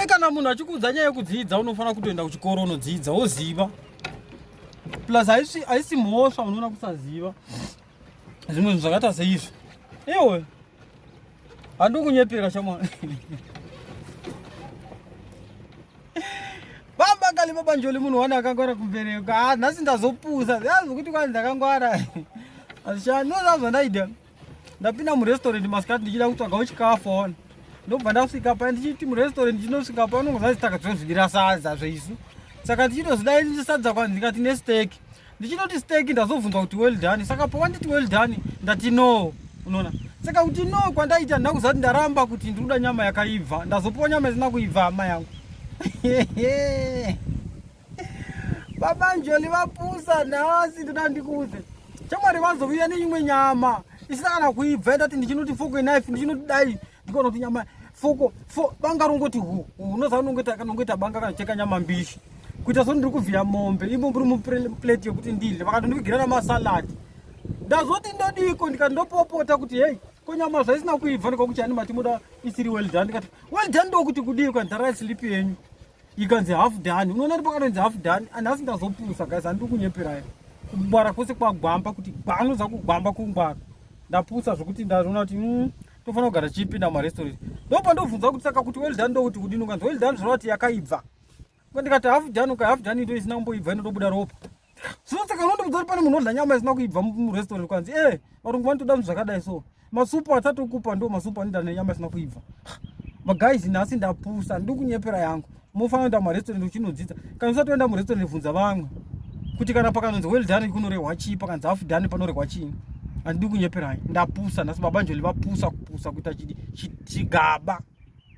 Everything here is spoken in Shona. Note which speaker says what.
Speaker 1: kana munhu achikuudza nyaya yekudzidza unofanira kutoenda kuchikoro unodzidza woziva plus haisi mhosva unoona kusaziva zvimwe zvinhu zvakaita seizvi ewe handi kunyepera shamwa bamba kali babanjoli munhu wani akangwara kumbereko ah, nhasi ndazopusa zvazi kuti kwani ndakangwara azishani nozvazvandaida ndapinda murestaurant masikati ndichida kutsvagawo chikafu aona ndobva ndasvika pa ndichiti murestaurant ndichinosvika pa unongozanzi takadzozvidira sadza zveisu saka ndichitozidai ndisadza kwanzi ndikati nesteki ndichinoti steki ndazobvunzwa kuti well done saka pawanditi well done ndati no unoona saka kuti no kwandaita ndina kuzati ndaramba kuti ndiri kuda nyama yakaibva ndazopiwa nyama isina kuibva hama yangu Baba Njoli vapusa nhasi ndoda ndikuudze. Chamwari vazovuya neimwe nyama isina kana kuibva yatati ndichinoti foko knife ndichinoti dai ndikaona kuti nyama foko fo banga rongoti hu unoziva unongoita kanongoita banga kanocheka nyama mbishi kuita so ndiri kuvhiya mombe imo mburi muplate yekuti ndidle vakatondivigera namasaladi ndazoti ndodiko ndikati ndopopota kuti hei ko nyama zvaisina kuibva ndikakuti ani mati muda isiri well done ndikati well done ndokuti kudii kwanhara yasilipi yenyu ikanzi half done unoona kuti pakatonzi half done anhasi ndazopusa guys handiri kunyeperai kungwara kwese kwagwamba kuti gwanoza kugwamba kungwara ndapusa zvekuti ndaona kuti mm, tofanira kugara tichipinda mumarestaurant ndopa ndobvunza kuti saka kuti well done ndokuti kudini ukanzi well done zvoreva kuti yakaibva ndikati half done uka half done ito isina kumboibva inotobuda ropa zvino saka unondiudza kuti pane munhu odla nyama isina kuibva murestaurant kwanzi e eh, varungu vanotoda zvinhu zvakadai so masupu atatokupa ndo masupu anoita nenyama isina kuibva maguys nhasi ndapusa ndi kunyepera yangu mofanira kuenda mumarestaurant uchinodzidza kana usati waenda murestaurant vhunza vamwe kuti kana pakanonzi well done kunorehwa chii pakanzi half done panorehwa chii handidi kunyeperai ndapusa nhasi baba njoli vapusa kupusa kuita chigaba chi, chi